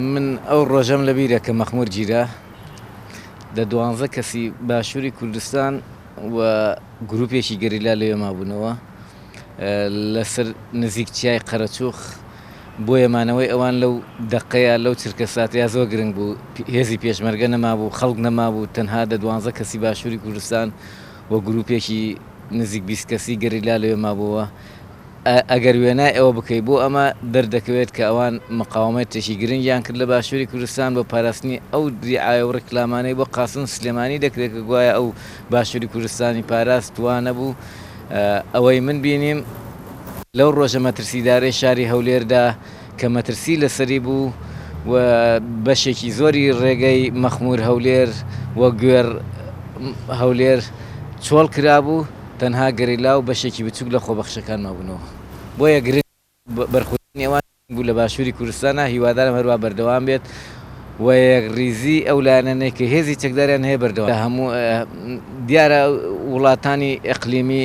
من ئەو ڕۆژەم لە بیرە کە مەخمور گیرا دە دوانزە کەسی باشوری کوردستان و گروپێکی گەریلا لەوێ مابوونەوە لە سەر نزیک چیای قەرەچوخ بۆیە مانەوەی ئەوان لەو دەقەیە لەو چرکە ساتەیە زۆر گرنگ بوو هێزی پێشمەرگە نەمابوو خەڵک نەمابوو تەنها دە دوانزە کەسی باشوری کوردستان و گروپێکی نزیک بیست کەسی گەریلا لەوێ مابووەوە ئەگەر وێنای ئەوە بکەیت بۆ ئەمە دەردەکەوێت کە ئەوان مقاومەتێکی گرنگیان کرد لە باشووری کوردستان بۆ پاراستنی ئەو دیعایە و ڕیکلامانەی بۆ قاسم سلێمانی دەکرێت کە گوایە ئەو باشووری کوردستانی پاراست وا نەبوو ئەوەی من بینیم لەو ڕۆژە مەترسیدارەی شاری هەولێردا کە مەترسی لەسەری بوو و بەشێکی زۆری ڕێگەی مەخمور هەولێر و گوێڕ هەولێر چۆڵ کرابوو، تەنها گەریلا و بەشێکی بچوک لە خۆبەخشەکان مابوونەوە، بۆیە گرنگ بوو بەرخودانی ئەوان گرنگ بوو لە باشوری کوردستانا، هیوادارم هەروا بەردەوام بێت و یەکڕیزی ئەو لایەنانەی کە هێزی چەکداریان هەیە بەردەوام بێت. دیارە وڵاتانی ئەقلیمی.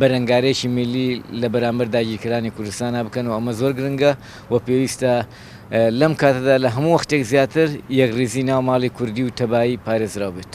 بەرەنگارێکی میللی لە بەرامبەر داگیرکەرانی کوردستانا بکەن و ئەمە زۆر گرنگە و پێویستە لەم کاتەدا لە هەموو وەختێک زیاتر یەکڕیزی ناو ماڵی کوردی و تەبایی پارێزراو بێت.